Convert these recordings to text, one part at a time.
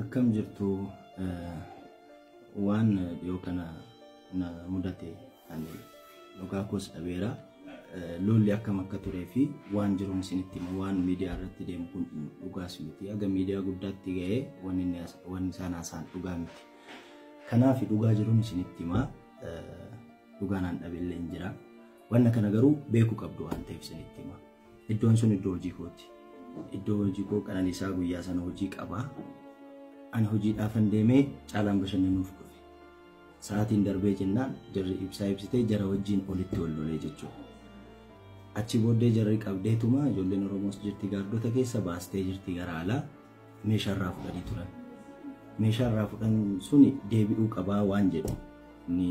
Akkam jirtu waan dhiyoo kana na mudate ani dhugaa koos dhabeera. Lolli akkam akka turee fi waan jiru isinitti hima waan miidiyaa irratti deemu kun dhugaas miti. Haga miidiyaa guddaatti ga'ee waan isaan haasaan dhugaa miti. Kanaaf dhugaa jiruun isinitti hima. Dhugaan aan dhabeellee hin jira. Wanna kana garuu beekuu qabdu waan ta'eef isinitti hima. Iddoon sun iddoo hojii kooti. Iddoo hojii koo qananiisaa guyyaa sana hojii qaba. Ani hojiidhaafan deemee caalaan bashannanuuf dhufe. Sa'aatiin darbee jennaan jarri ibsaa ibsitee jara wajjin olitti ol lolee jechuudha. Achi booddee jarri qabdeetuma ijoolleen Oromoos jirti gaardota keessa baastee jirti gara alaa meeshaa irraa fudhanii turan. Meeshaa irraa fudhan suni deebi'uu qabaa waan jedhu ni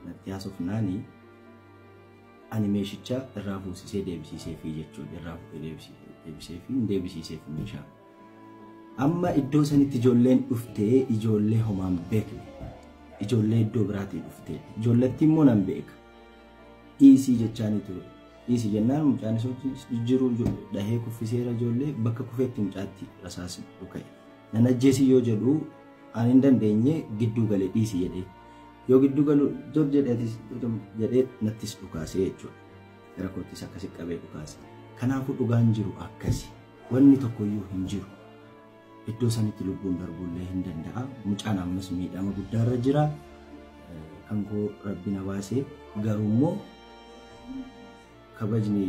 natti haasofnaani. Ani meeshicha irraa fuusisee deebisiiseefi jechuun irraa fuudhee deebisiiseefi hin deebisiiseef meeshaa. Amma iddoo sanitti ijoolleen dhuftee ijoollee homaan beekne. Ijoollee iddoo biraatii dhuftee. Ijoollattii immoo nan beeka. Dhiisii jechaanii ture. Dhiisii jennaan mucaan isootti jijjiiruu dhahee kuffiseera ijoollee bakka kufeetti mucaatti rasaasni dhuka'e. Nan ajjeesii yoo jedhu ani hin dandeenye gidduu galee dhiisii jedhee. Yoo gidduu galu jor jedhe atis jedhee nattis dhukaasee jechuudha. Gara koottis akkasi qabee dhukaase. Kanaafuu dhugaan jiru akkasi. Wanni tokkoyyuu hin jiru. Iddoo sanitti lubbuun darbuullee hin danda'a. Mucaan ammas miidhama guddaarra jira. Kan koo rabbi na baase garuu immoo kabajni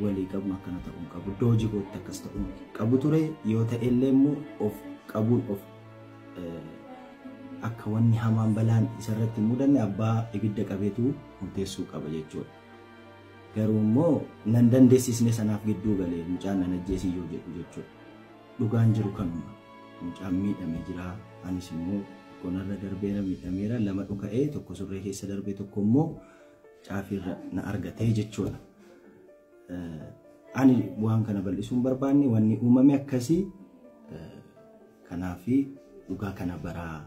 walii qabnu akkana ta'uu hin qabu. Iddoo hojii kootti akkas ta'uu hin qabu ture yoo ta'e illee immoo of qabuun of akka wanni hamaan balaan isarratti hin mudanne abbaa ibidda qabeetu murteessuu qaba jechuudha. Garuu immoo nan dandeessisne sanaaf gidduu galee mucaan nan ajjeesii yoo jedhu jechuudha. Dhugaan jiru kanuma. Mucaan miidhame jira. Anis immoo tokko narra darbeera miidhameera lama dhuka'ee tokko surree keessa darbee tokko immoo caafiirra na argate jechuudha. Ani waan kana bal'isuun barbaanne wanni uumame akkasii kanaafi dhugaa kana baraa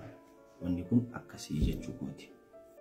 wanni kun akkasii jechuu kooti.